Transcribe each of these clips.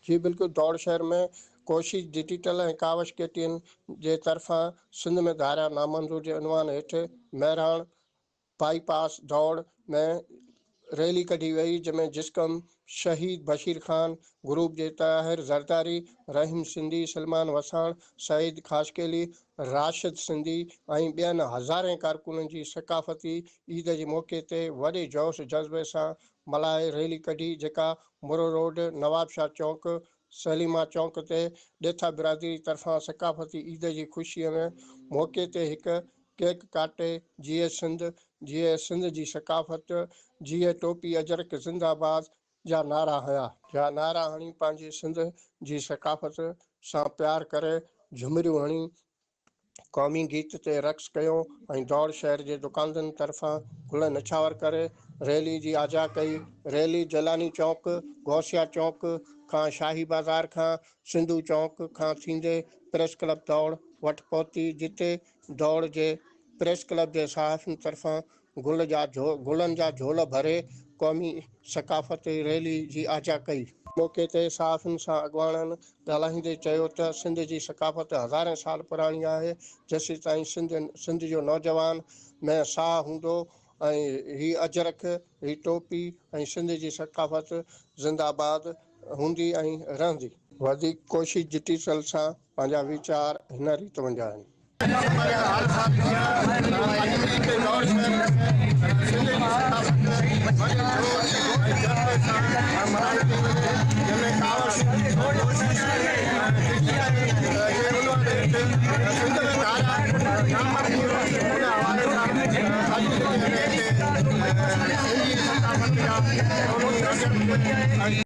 جي بلڪل دؤڙ شهر ۾ ڪوشش digital ۽ Kawish K T N جي طرفان سنڌ ۾ ڌاريا نامنظور جي عنوان هيٺ مهراڻ بائي پاس دؤڙ ۾ ريلي ڪڍي وئي جنهن ۾ جسقم شهيد بشير خان گروپ جي طاهر زرداري رحيم سنڌي سلمان وساڻ سعيد خاشقيلي راشد سنڌي ۽ ٻين هزارين ڪارڪنن جي ثقافتي عيد جي موقعي تي وڏي جوش جذبي سان ملهائي ريلي ڪڍي جيڪا مورو روڊ، نواب شاهه چونڪ، سليمان چونڪ تي ڏيٿا برادري طرفان ثقافتي عيد جي خوشيء ۾ موقعي تي هڪ ڪيڪ ڪاٽي جيئي سنڌ، جيئي سنڌ جي ثقافت، جيئي ٽوپي اجرڪ زنده باد جا نعرا هنيا. جا نعرا هڻي پنهنجي سنڌ جي ثقافت سان پيار ڪري جهمريون هڻي قومي گيت تي رقص ڪيو ۽ دور شهر جي دڪاندن طرفان گل نڇاور ڪري ريلي جي آجيا ڪئي. ريلي جيلاني چوڪ، غوثيه چوڪ کان شاهي بازار کان سنڌو چوڪ کان ٿيندي پريس ڪلب دوڙ وٽ پهتي جتي دوڙ جي پريس ڪلب جي صحافين طرفان گل جا گلن جا جھول ڀري قومي ثقافتي ريلي جي آجيا ڪئي. موقعي تي صحافين سان اڳواڻن ڳالهائيندي چيو ته سنڌ جي ثقافت هزارين سال پراڻي آهي، جيسيتائين سنڌ سنڌ جو نوجوان ۾ ساهه هوندو ۽ هي اجرڪ، هي ٽوپي ۽ سنڌ جي ثقافت زندهه آباد هوندي ۽ رهندي. وڌيڪ ڪوشش ڊٽيسل سان پنهنجا ويچار هن ريت منجهه آهن.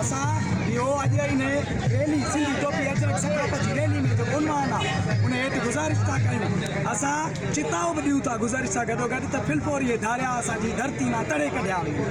اسان اهو اڄ هن ريلي سنڌ ٽوپي اجرڪ ثقافت جي ريلي ۾ جيڪو عنوان آهي ان هيٺ گذارش ٿا ڪيون اسان چتائو به ڏيون ٿا گذارش سان گڏو گڏ ته ڦلڦوري هي ڌاريا اسان جي ڌرتي مان تڙي ڪڍيا وڃن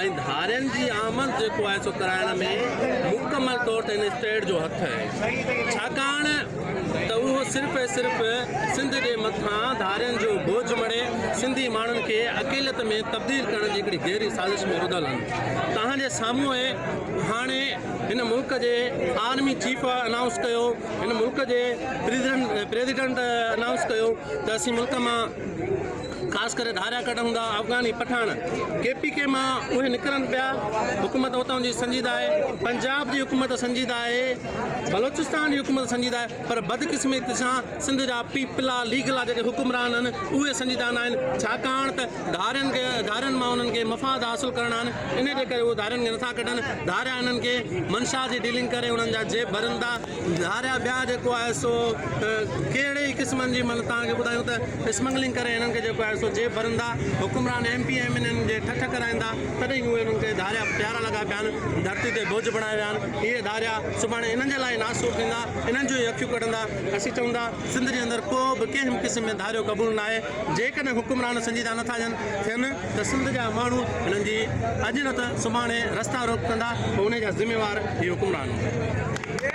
۽ ڌارين جي آمد جيڪو آهي سو ڪرائڻ ۾ مڪمل طور تي هن اسٽيٽ جو هٿ آهي ڇاڪاڻ ته اهو صرف ۽ صرف سنڌ جي مٿان ڌارين جو بوجهه مڙهي سنڌي ماڻهن کي اقليت ۾ تبديل ڪرڻ جي هڪڙي گهري سازش ۾ رڌل هن توهان جي سامهون اهي هاڻي هن ملڪ جي آرمي چيف انائونس ڪيو هن ملڪ جي پريزيڊنٽ انائونس ڪيو ته اسين ملڪ مان خاص ڪري ڌاريا ڪڍ هوندا افغاني پٺاڻ ڪي پي ڪي مان اهي نڪرن پيا حڪومت اتان جي سنجيده آهي پنجاب جي حڪومت سنجيده آهي بلوچستان جي حڪومت سنجيده آهي پر بدقسمتي سان سنڌ جا پيپلا ليگ لا جيڪي حڪمران آهن اهي سنجيده ناهن ڇاڪاڻ ته ڌارين کي ڌارين مان انهن کي مفاد حاصل ڪرڻا آهن انهي جي ڪري اهي ڌارين کي نٿا ڪڍن ڌاريا انهن کي منشا جي ڊيلنگ ڪري انهن جا جيب ڀرن ٿا ڌاريا ٻيا جيڪو آهي سو ڪهڙي ئي قسمن جي مطلب توهان کي ٻڌايون ته اسمگلنگ ڪري هنن کي جيڪو آهي سو جيب ڀرندا حڪمران M P M N N جي ٺٺ ڪرائيندا تڏهن هي انهن کي ڌاريا پيارا لڳا پيا آهن ڌرتي تي بوجھ بڻايو ويا آهن اهي ڌاريا سڀاڻي انهن جي لاء ئي ناسور ٿيندا انهن جون ئي اکيون ڪڍندا اسين چئون ٿا سنڌ جي اندر ڪو به ڪنهن به قسم ۾ ڌاريو قبول ناهي جيڪڏهن حڪمران سنجيده نٿا ٿين ته سنڌ جا ماڻهو هنن جي اڄ نه ته سڀاڻي رستا روڪ ڪندا پوء انهي جا ذميوار هي حڪمران هوندا.